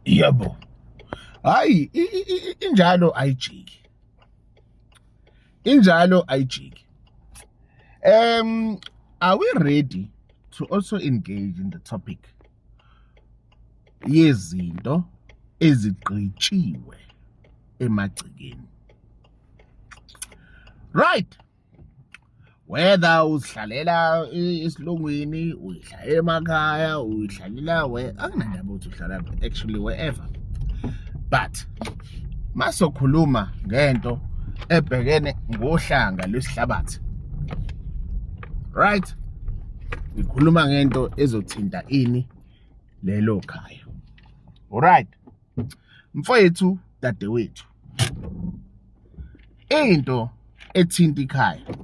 yebo hayi injalo ayijiki injalo ayijiki um are we ready to also engage in the topic yezinto ezigqitshiwe emagcekeni right whether uzihlalela esilungwini uyidla emakhaya uyihlalela we akunandaba ukuthi uhlala actually wherever but masokhuluma ngento ebhekene ngohlanga lwesihlabathi right ngikhuluma ngento ezothinta ini lelo khaya alright mfowethu dadewethu into ethinta ikhaya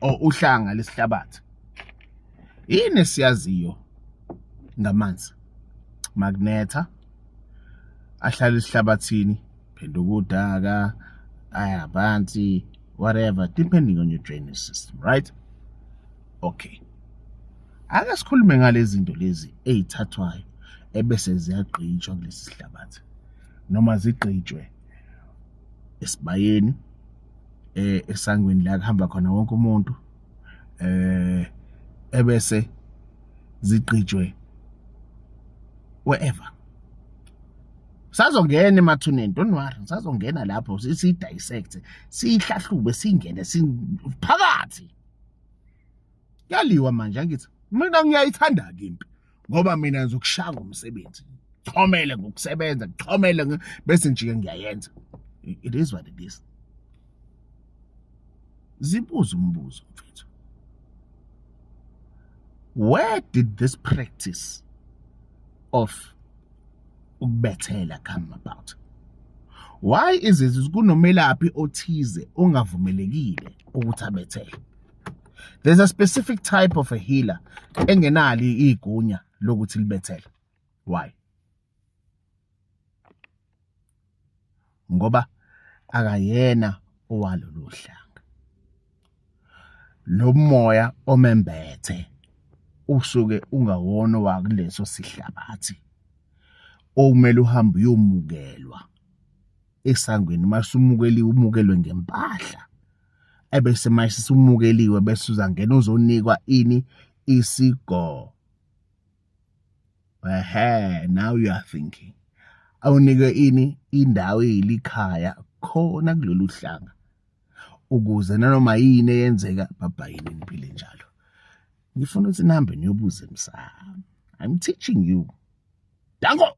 or uhlanga lesihlabathi yini siyaziyo ngamanzi magnetha ahlala esihlabathini phenduka udaka aya phansi whatever depending on your drainage system right okay Ake sikhulume ngalezi zinto lezi ezithathwayo ebese ziyagqitshwa kulesi sihlabathi noma zigqitshwe esibayeni eh esangweni la kuhamba khona wonke umuntu eh ebese zigqitshwe wherever sazongena emathuneni don't worry sazongena lapho si dissect sihlahlube singene siphakathi kuyaliwa manje angithi mina ngiyayithanda ke impi ngoba mina ngizokushaya ngomsebenzi chomele ngokusebenza chomele bese njike ngiyayenza it is what it is zibuza umbuzo mfethu where did this practice of ukubethela come about why is it kunomelaphi othize ongavumelekile ukuthi abethele there's a specific type of a healer engenali igunya lokuthi libethele why ngoba akayena owalolu hlanga lo moya omembethe usuke ungawona wakuleso sihlabathi okumele uhambe uyomukelwa esangweni masumukeliwe umukelwe ngempahla ebese manje sumukeliwe bese uzangena uzonikwa ini isigo ehe now you are thinking awunike ini indawo eyilikhaya khona kulolu hlanga ukuze nanoma yini eyenzeka babhayini niphile njalo ngifuna ukuthi nihambe niyobuza emsamo i'm teaching you danko